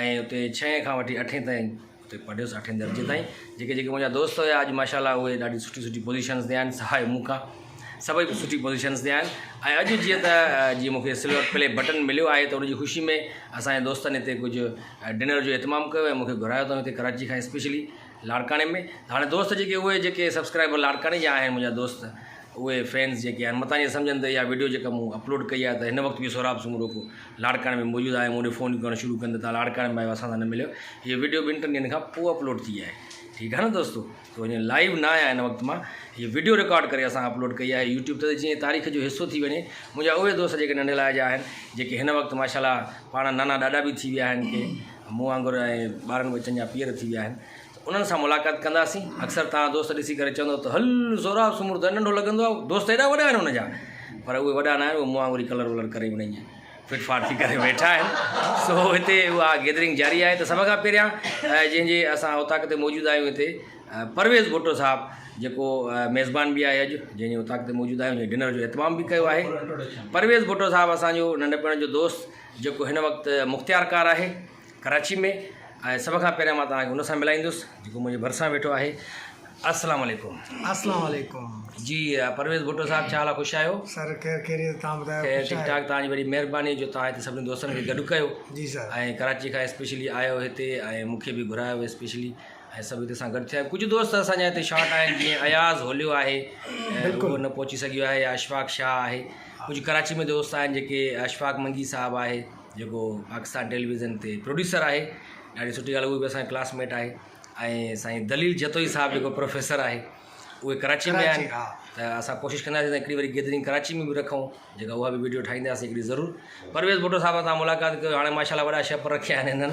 ۽ اتي ڇهين کان وٺي اٺين تائين اتي پڙهيس اٺين درجي تائين جيڪي جيڪي منهنجا دوست هيا اڄ ماشاءالله اهي ڏاڍي سٺي سٺي پوزيشنس تي آهن سواء مون کان سڀئي سٺي پوزيشنس تي آهن ۽ اڄ جيئن ته جيئن مونکي سلور پلي بٽن مليو آهي ته ان جي خوشي ۾ اسان جي دوستن هتي ڪجهه ڊنر جو اهتمام ڪيو ۽ مونکي گهرايو اٿن هتي ڪراچي کان اسپيشلي لاڙڪاڻي ۾ ته هاڻي دوست جيڪي اهي جيڪي سبسڪرائبر لاڙڪاڻي جا آهن منهنجا دوست اهي فينز جيڪي آهن متان اهي سمجهن ته اها ويڊيو جيڪا مون اپلوڊ ڪئي آهي ته هن وقت به سهراب سومرو لاڙڪاڻي ۾ موجود آهي مون ڏي فونيون ڪرڻ شروع ڪن ته تان لاڙڪاڻي ۾ آهيو اسان سان نه مليو هي ويڊيو ٻن ٽن ڏينهن کان پوء اپلوڊ ٿي آهي ٺيڪ آهي نه دوستو تو اڃا لائيو نه آهيا هن وقت مان هي ويڊيو رڪارڊ ڪري اسان اپلوڊ ڪئي آهي يوٽيوب ته جيئن تاريخ جو حصو ٿي وڃي منهنجا اهي دوست جيڪي ننڍي لاء جا آهن جيڪي هن وقت ماشاء الله پاڻ نانا ڏاڏا به ٿي ويا آهن ڪي مون وانگر اهي ٻارن ٻچن جا پيئر ٿي ويا آهن ته انهن سان ملاقات ڪنداسين اڪثر توهان دوست ڏسي ڪري چوندو ته هل زوراب سومرو ته ننڍو لڳندو آهي دوست ايڏا وڏا آهن ان جا پر اهي وڏا ناهن اهي مون وانگر ئي ڪلر ولر ڪري مڙيئي فٽ فاٽ ٿي ڪري ويٺا آهن سو هتي اها گيدرنگ جاري آهي ته سڀ کان پهريان جنهن جي اسان اوطاق تي موجود آهيون هتي پرويز ڀٽو صاحب جيڪو ميزبان به آهي اڄ جنهن جي اوطاق تي موجود آهيون جنهن ڊنر جو اهتمام به ڪيو آهي پرويز ڀٽو صاحب اسانجو ننڍپڻ جو دوست جيڪو هن وقت مختيار ڪار آهي ڪراچي ۾ ۽ سڀ کان پهريان مان توهان کي ان سان ملائيندس جيڪو منهنجي ڀرسان ويٺو آهي السلام عليڪم السلام عليڪم جي پرويز ڀٽو صاحب ڇا حال آهي خوش آهيو سر خير خيريت تان ٻڌايو خير خوش ٺيڪ آهيو ٺاڪ توهان جي وڏي مهرباني جو توهان هتي سڀني دوستن کي گڏ ڪيو جي سر ۽ ڪراچي کان اسپيشلي آيو هتي ۽ مون کي به گهرايو اسپيشلي ۽ سڀ هتي سان گڏ ٿيا ڪجهه دوست اسان جا هتي شارٽ آهن جيئن اياز هوليو آهي ۽ هو بلڪل. نه پهچي سگهيو آهي يا اشفاق شاهه آهي ڪجهه ڪراچي ۾ دوست آهن جيڪي اشفاق منگي صاحب آهي جيڪو پاڪستان ٽيليويزن تي پروڊيوسر آهي ڏاڍي سٺي ڳالهه هو به اسان ڪلاس ميٽ آهي ۽ سائين دليل جتوئي صاحب جيڪو پروفيسر آهي اهي ڪراچي ۾ آهن ته اسان ڪوشش ڪنداسين هڪڙي واري گيدرنگ ڪراچي ۾ به رکون جيڪا اها به ويڊيو ٺاهينداسين هڪڙي ضرور پرويز ڀٽو صاحب سان ملاقات ڪيو هاڻي ماشاء الله وڏا شيف رکيا آهن هنن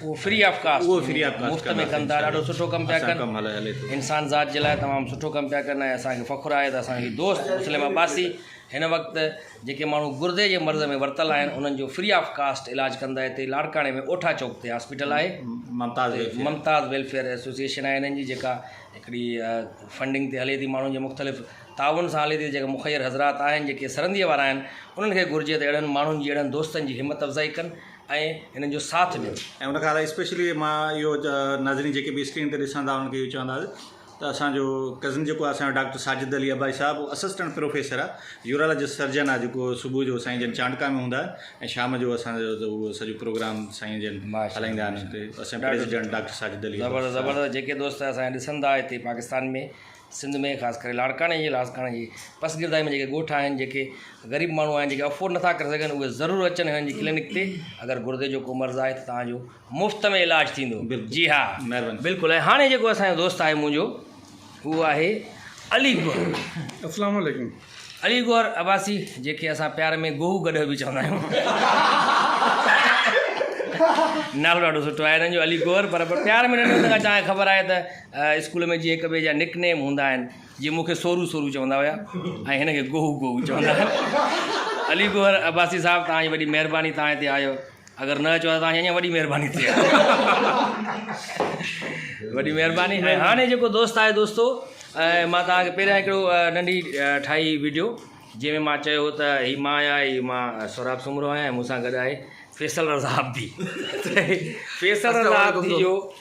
اهو فري آف ڪاسٽ اهو فري آف ڪاسٽ مفت ۾ ڪن ٿا ڏاڍو سٺو ڪم پيا ڪن ڪم هلي هلي ٿو انسان ذات جي لاء تمام سٺو ڪم پيا ڪن ۽ اسانکي فخر آهي ته اسانجي دوست مسلم عباسي هن وقت جيڪي ماڻهو گردي جي مرض ۾ ورتل آهن انهن جو فري آف ڪاسٽ علاج ڪندا هتي لاڙڪاڻي ۾ اوٺا چوڪ تي هاسپيٽل آهي Mumtaz welfare Mumtaz welfare association آهي هنن جي جيڪا هڪڙي فنڊنگ تي هلي ٿي ماڻهن جي مختلف تعاون سان هلي ٿي جيڪا مخير حضرات آهن جيڪي سرنديء وارا آهن انهن کي گهرجي ته اهڙن ماڻهن جي اهڙن دوستن جي همت افزائي ڪن ۽ هنن جو ساٿ ڏيو. ۽ ان کان علاوه اسپيشلي مان اهو ناظرين جيڪي به اسڪرين تي ڏسندا انهن کي اهو چونداس ته اسان جو ڪزن جيڪو آهي اسان جو ڊاڪٽر ساجد علي عباسي صاحب اهو اسسٽنٽ پروفيسر آهي يورالاجسٽ سرجن آهي جيڪو صبح جو سائين جن چانڊڪا ۾ هوندا آهن ۽ شام جو اسان جو اهو سڄو پروگرام سائين جن هلائيندا آهن اسان جو پريزيڊنٽ ڊاڪٽر ساجد علي عباسي صاحب. زبردست زبردست جيڪي دوست اسان کي ڏسندا هتي پاڪستان ۾. سنڌ ۾ خاص ڪري لاڙڪاڻي جي لاڙڪاڻي جي پسگردائي ۾ جيڪي ڳوٺ آهن جيڪي غريب ماڻهو آهن جيڪي افورڊ نٿا ڪري سگهن اهي ضرور اچن هنن جي ڪلينڪ تي اگر گردي جو ڪو مرض آهي ته تهانجو مفت ۾ علاج ٿيندو بلڪل جي ها مهرباني بلڪل ۽ هاڻي جيڪو اسانجو دوست آهي منهنجو هو آهي علي گوهر اسلام عليڪم علي گوهر عباسي جيڪي اسان پيار ۾ گوهو گڏهه به چوندا آهيون نالو ڏاڍو سٺو آهي هنن جو علي گوهر پر پيار ۾ ننڍي هوندي کان خبر آهي ته اسڪول ۾ جيئن هڪ ٻئي جا نڪ نيم هوندا آهن جيئن مون کي سورو سورو چوندا هيا ۽ هن کي گوهو گوهو چوندا هيا علي گوهر عباسي صاحب توهان جي وڏي مهرباني توهان هتي آيو اگر نه اچو توهان جي اڃا وڏي مهرباني ٿئي وڏي مهرباني ۽ هاڻي جيڪو دوست آهي دوستو مان توهان کي پهريان هڪڙو ننڍي ٺاهي ويڊيو جنهن ۾ مان چيو هو ته هي مان آهيان هي مان سهراب سومرو آهيان ۽ مون سان گڏ آهي فيصل رضا عابدي فيصل رضا عابدي جو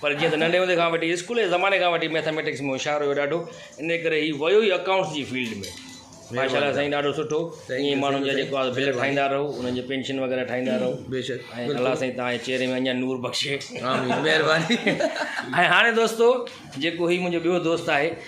پر جيئن ته ننڍي هوندي کان وٺي اسڪول جي زماني کان وٺي ميٿاميٽڪس ۾ هوشيار هيو ڏاڍو ان ڪري هي ويو ئي اڪائونٽس جي فيلڊ ۾ ماشاء الله سائين ڏاڍو سٺو ائين ماڻهن جا جيڪو آهي بل ٺاهيندا رهو انهن جي پينشن وغيره ٺاهيندا رهو بيشڪ ۽ الله سائين تهان جي چهري ۾ اڃا نور بخشي آمين مهرباني ۽ هاڻي دوستو جيڪو هي منهنجو ٻيو دوست آهي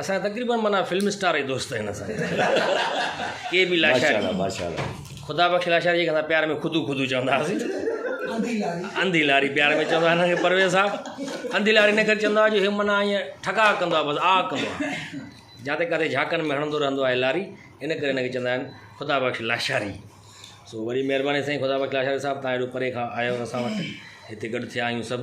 اسان تقريبن معنی فلم اسٽار جي دوست آهن اسان ڪي بي لاشاري ماشاءالله خدا بخش لاشاري جي اسان پيار ۾ خودو خودو چوندا سي انڌي لاري پيار ۾ چوندا نه پرويز صاحب انڌي لاري نه ڪر چوندا جو هي معنی ايئن ٺڪا ڪندو بس آ ڪندو جاتے ڪري جھاڪن ۾ هڻندو رهندو آهي لاري ان ڪري ان کي چوندا آهن خدا بخش لاشاري سو وڏي مهرباني سائين خدا بخش لاشاري صاحب تان ايڏو پري کان آيو اسان وٽ هتي گڏ ٿيا آهيون سڀ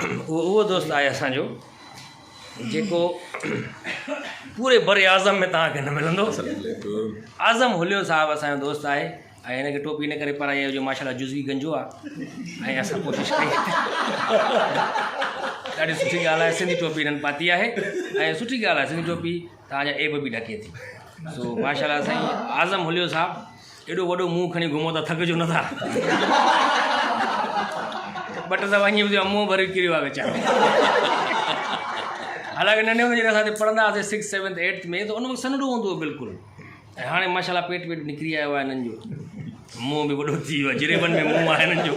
اهو اهو دوست آهي اسانجو جيڪو پوري بر اعظم ۾ توهان کي نه ملندو اعظم هليو صاحب اسانجو دوست آهي ۽ هن کي ٽوپي نه ڪري پرائي آهي جو ماشاء الله جزوي گنجو آهي ۽ اسان ڪوشش ڪئي ڏاڍي سٺي ڳالهه آهي سنڌي ٽوپي هنن پاتي آهي ۽ سٺي ڳالهه آهي سنڌي ٽوپي توهان جا عيب به ڍڪي ٿي سو ماشاءالله سائين اعظم هليو صاحب ايڏو وڏو منهن کڻي گهمو ٿا ٿڪجو نه ٿا بٽ صاحب اڃي ٻڌيو منهن ڀري ڪريو آ ويچارو حالانڪه ننڍي هوندي جڏهن اسان پڙهندا هئاسين سڪس سيونٿ ايٽٿ ۾ ته ان وقت سنهڙو هوندو هو بلڪل ۽ هاڻي ماشاء الله پيٽ ويٽ به نڪري آيو آهي هنن جو منهن به وڏو ٿي ويو آهي جريبن ۾ منهن آهي هنن جو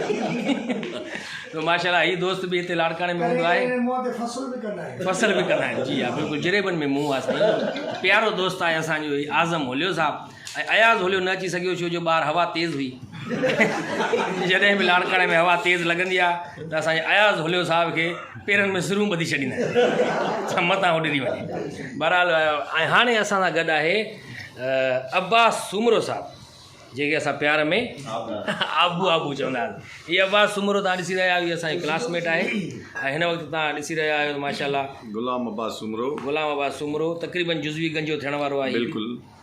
تو ماشاء الله هي دوست به هتي لاڙڪاڻي ۾ هوندو آهي منهن تي فصل به ڪندا آهن فصل به ڪندا آهن جي ها بلڪل جريبن ۾ منهن آهي سائين پيارو دوست آهي اسان جو اعظم هوليو صاحب ۽ اياز هوليو نه اچي سگهيو ڇو جو ٻاهر هوا تيز هئي جڏهن به لاڙڪاڻي ۾ هوا تيز لڳندي آهي ته اسان جي اياز هوليو صاحب کي پيرن ۾ سرون ٻڌي ڇڏيندا آهن ته متان اڏري وڃي بھرحال ۽ هاڻي اسان سان گڏ آهي عباس سومرو صاحب جيڪي اسان پيار ۾ آبو آبو چوندا آهن هي عباس سومرو تان ڏسي رهيا آهيو اسان جي ڪلاس ميٽ آهي ۽ هن وقت تان ڏسي رهيا آهيو ماشاءالله غلام عباس سومرو غلام عباس سومرو تقريبن جزوي گنجو ٿيڻ وارو آهي بلڪل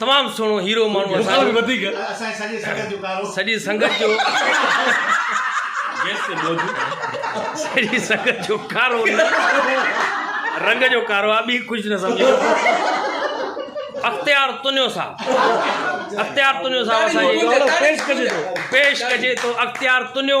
تمام سهڻو هيرو ماڻهو اسان سڄي سنگت جو سڄي سنگت جو ڪارو رنگ جو ڪارو آ ٻي ڪجھ نه سمجهي اختيار تنيو صاحب اختيار تنيو صاحب اسان جي پيش ڪجي ٿو اختيار تنيو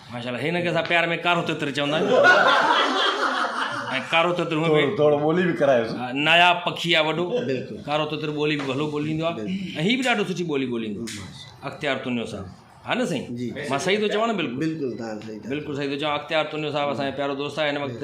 ماشاء الله هن کي اسان پيار ۾ ڪارو تتر چوندا آهيون ۽ ڪارو تتر هونء به ٿورو ٻولي به ڪرايوس ناياب پکي آهي وڏو بلڪل ڪارو تتر ٻولي به ڀلو ٻوليندو آهي ۽ هي به ڏاڍو سٺي ٻولي ٻوليندو اختيار تنيو صاحب ها نه سائين مان صحيح ٿو چوان نه بلڪل بلڪل بلڪل صحيح ٿو چوان اختيار تنيو صاحب اسان جو پيارو دوست آهي هن وقت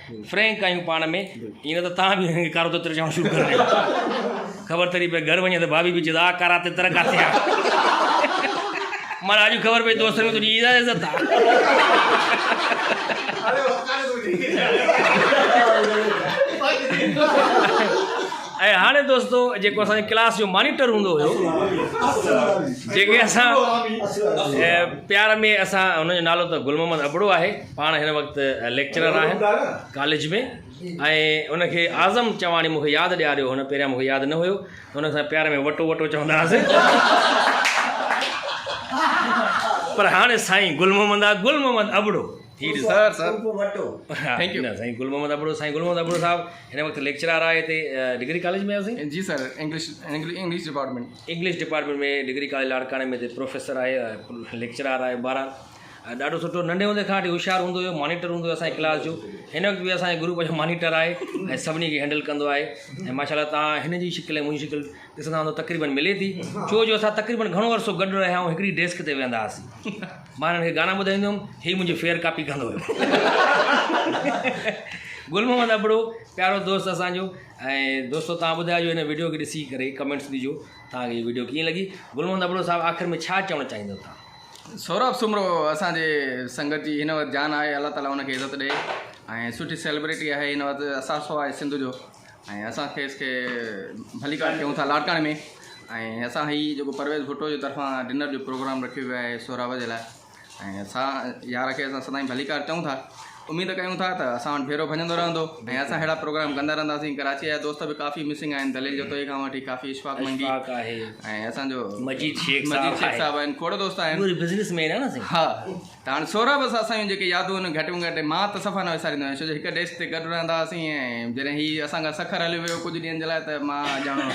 فرينڪ آهيون پاڻ ۾ ائين نه ته توهان به هن کي ڪارو تتر چوڻ شروع ڪري ڏيو خبر تري پئي گهر وڃي ته ڀاڀي به چئي ته آ ڪارا تتر ڪاٿي آ مانا اڄ خبر پئي دوستن ۾ تنهنجي اها عزت آ ۽ هاڻي دوستو جيڪو اسان جي ڪلاس جو مانيٽر هوندو هيو جيڪي اسان پيار ۾ اسان هن جو نالو ته گل محمد ابڙو آهي پاڻ هن وقت ليڪچرر آهن ڪاليج ۾ ۽ ان کي اعظم چواڻي مونکي ياد ڏياريو هن پهريان مونکي ياد نه هيو هن سان پيار ۾ وٽو وٽو چوندا هئاسين پر هاڻي سائين گل محمد آ گل محمد ابڙو ٿي sir sir Wattoo thank you سائين گل محمد ابڙو سائين گل محمد ابڙو صاحب هن وقت ليڪچرر آهي تي ڊگري ڪاليج ۾ اسين جي sir English English department English department ۾ degree college لاڙڪاڻي ۾ تي پروفيسر آهي ليڪچرر آهي بارا ڏاڍو سٺو ننڍي هوندي کان وٺي هوشيار هوندو هيو مانيٽر هوندو هيو اسانجي ڪلاس جو هن وقت به اسانجي گروپ جو مانيٽر آهي ۽ سڀني کي هينڊل ڪندو آهي ۽ ماشاء الله تان هن جي شڪل ۽ منهنجي شڪل ڏسندا هوندو تقريباً ملي ٿي ڇو جو اسان تقريباً گهڻو عرصو گڏ رهيا آهيون هڪڙي ڊيسڪ تي ويهندا هئاسين مانا هن کي گانا ٻڌائيندو هيم هي منهنجي فيئر ڪاپي ڪندو هيو گل محمد ابڙو پيارو دوست اسانجو ۽ دوستو تان ٻڌايو جو هن ويڊيو کي ڏسي ڪري ڪمينٽس ڏجو تان کي هي ويڊيو ڪيئن لڳي گل محمد ابڙو صاحب آخر ۾ ڇا چوڻ چاهيندو تان سهراب سومرو اسان جي سنگت جي هن وقت جان آهي الله تعالي ان کي عزت ڏي ۽ سٺي سيلبريٽي آهي هن وقت اثاثو آهي سنڌ جو ۽ اسان کيس کي ڀليڪار ڪيون ٿا لاڙڪاڻي ۾ ۽ اسان هي جيڪو پرويز ڀٽو جي طرفان ڊنر جو پروگرام رکيو ويو آهي سهراب جي لاء ۽ اسان يار کي اسان سدائين ڀليڪار چئون ٿا اميد ڪيون ٿا ته اسان وٽ ڀيرو ڀڃندو رهندو ۽ اسان اهڙا پروگرام ڪندا رهنداسين ڪراچيء جا دوست به ڪافي مسنگ آهن دليل جتوئي کان وٺي ڪافي اشفاق منگي اشفاق آهي ۽ اسان جو مجيد شيخ صاحب مجيد شيخ صاحب آهن کوڙ دوست آهن پوري بزنس مين آهن اسين ها ته هاڻي سورا بس اسان جون جيڪي يادون آهن گهٽ ۾ گهٽ مان ته صفا نه وساريندو آهيان ڇو جو هڪ ڊيسڪ تي گڏ رهندا هئاسين ۽ جڏهن هي اسان کان سکر هليو ويو ڪجهه ڏينهن جي لاء ته مان ڄڻو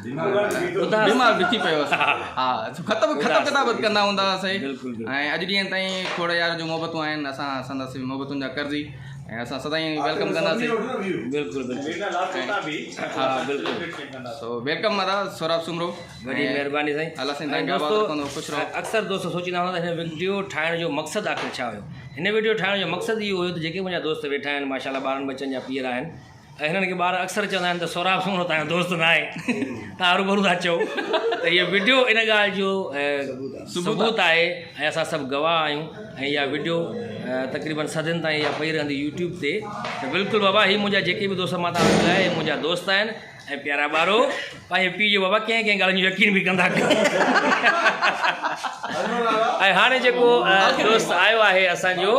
بيمار به ٿي پيو هوس ها ختم ختم ڪتاب ڪندا هوندا هوسي ۽ اڄ ڏينهن تائين کوڙ يار جون محبتون آهن اسان سندس محبتن جا قرضي ۽ اسان سدائين ويلڪم ڪنداسين بلڪل بلڪل ها بلڪل سو ويلڪم ادا سوراب سومرو وڏي مهرباني سائين الله سائين تنگ آباد رکندو خوش رهو اڪثر دوست سوچيندا هوندا هن ويڊيو ٺاهڻ جو مقصد آخر ڇا هيو هن ويڊيو ٺاهڻ جو مقصد اهو هيو ته جيڪي منهنجا دوست ويٺا آهن ماشاءالله ٻارن ٻچن جا پيئر آهن هنن کي ٻار اڪثر چوندا آهن ته سهراب سومرو تهان جو دوست نه آهي تهان روبرو ٿا چئو ته هيء وڊيو ان ڳالهه جو ثبوت آهي ۽ اسان سڀ گواهه آهيون ۽ اها وڊيو تقريبن صدين تائين اها پئي رهندي يوٽيوب تي ته بلڪل بابا هي منهنجا جيڪي به دوست مان تهان ٻڌايا هي منهنجا دوست آهن ۽ پيارا ٻارو پنهنجي پيء جو بابا ڪنهن ڪنهن ڳالهين جو يقين به ڪندا ڪيو ۽ هاڻي جيڪو دوست آيو آهي اسان جو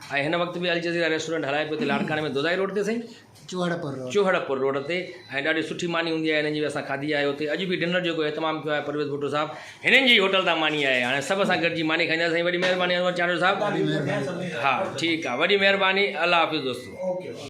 ۽ هن وقت به الجزيره ريسٽورنٽ هلائي پيو ٿي لاڙڪاڻي ۾ دودائي روڊ تي سائين چوهڙپور روڊ چوهڙپور روڊ تي ۽ ڏاڍي سٺي ماني هوندي آهي هنن جي اسان کاڌي آهي اتي اڄ به ڊنر جيڪو اهتمام ڪيو آهي پرويز ڀٽو صاحب هنن جي هوٽل تان ماني آهي هاڻي سڀ اسان گڏجي ماني کائينداسين سائين وڏي مهرباني انور چانڊيو صاحب ها ٺيڪ آهي وڏي مهرباني الله حافظ دوستو